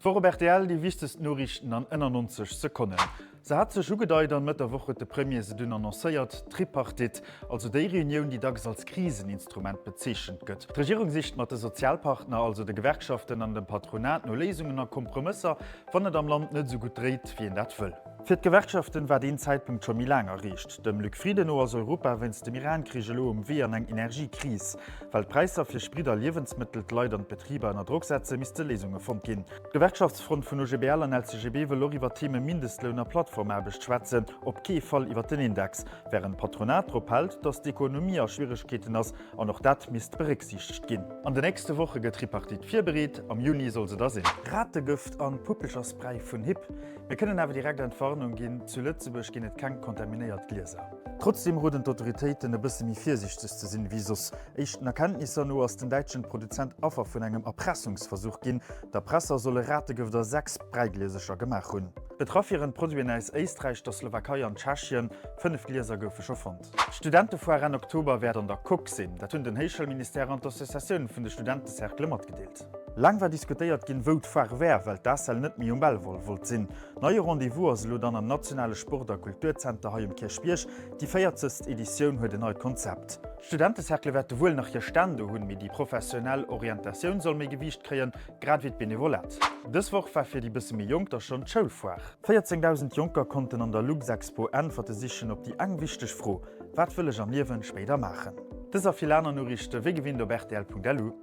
D'Woch op rtl, déi wichtegst Noriichten an ënner 90 Sekonnen. Se hat sech ugedeit an Mëtt der Woch huet de Premier se dunn annoncéiert, d'Tripartite, also déi Reunioun, déi dacks als Kriseninstrument bezeechent gëtt. D'Regierung sicht mat de Sozialpartner, also de Gewerkschaften an dem Patronat no Léisungen a Kompromësser, wann et am Land net esou gutt dréit, wéi een dat wëll. Fir d'Gewerkschaften war deen Zäitpunkt scho méi laang erreecht. Dem Luc Frieden no ass Europa wéinst dem Iran-Krich elo um Wee an eng Energiekris. Well d'Präisser fir Sprit a Liewensmëttel d'Leit an d'Betriber ënner Drock setze misste Léisunge fonnt ginn. D'Gewerkschaftsfront vun OGBL an LCGB wëll och iwwer d'Theme Mindestloun a Plattformaarbecht schwätzen, op kee Fall iwwer den Index. Wärend d'Patronat drop hält, datt d'Ekonomie a Schwieregkeeten ass an och dat misst berécksiichtegt ginn. An de nächste Woche gëtt d'Tripartite virbereet. Am Juni soll se da sinn. Rategëft an Puppelcherspray vun Hipp! Mir kënnen awer direkt Entwarnung ginn, zu Lëtzebuerg ginn et keng kontaminéiert Glieser. Trotzdeem roden d'Autoritéiten e bësse méi virsiichteg ze sinn ewéi soss. Éischten Erkenntnisser no ass den däitschen Produzent Affer vun engem Erpressungsversuch ginn. D'Erpresser solle Rategëft a sechs Bräigliesercher gemaach hunn. Betraff wieren d'Produiten aus Éisträich, der Slowakei an Tschechien. Fënnef Glieser goufe scho fonnt. D'Studentefoire Enn Oktober wäert an der Coque sinn. Dat hunn den Héichschoulministère an d'Associatioun vun de Studentecerclë matgedeelt. Laang war diskutéiert ginn, wou d'Foire wär, well d'ACEL net méi um Belval wollt sinn. Neie Rendez-vous ass elo dann am nationale Sport a Kulturzenter hei um Kierchbierg. Déi 40. Editioun huet en neit Konzept. D'Studentecercle wäerte wuel nach hir Stänn do hunn, mee déi professionell Orientatioun soll méi Gewiicht kréien, grad ewéi d'Benevolat. Dës Woch war fir déi bësse méi Jonk da schonn d'Schoulfoire. 14.000 Jonker konnten an der Luxexpo Äntwerte sichen op déi eng wichteg Fro, Wat wëll ech am Liewen spéider maachen? Dës a vill aner Noriichte wéi gewinnt op rtl.lu.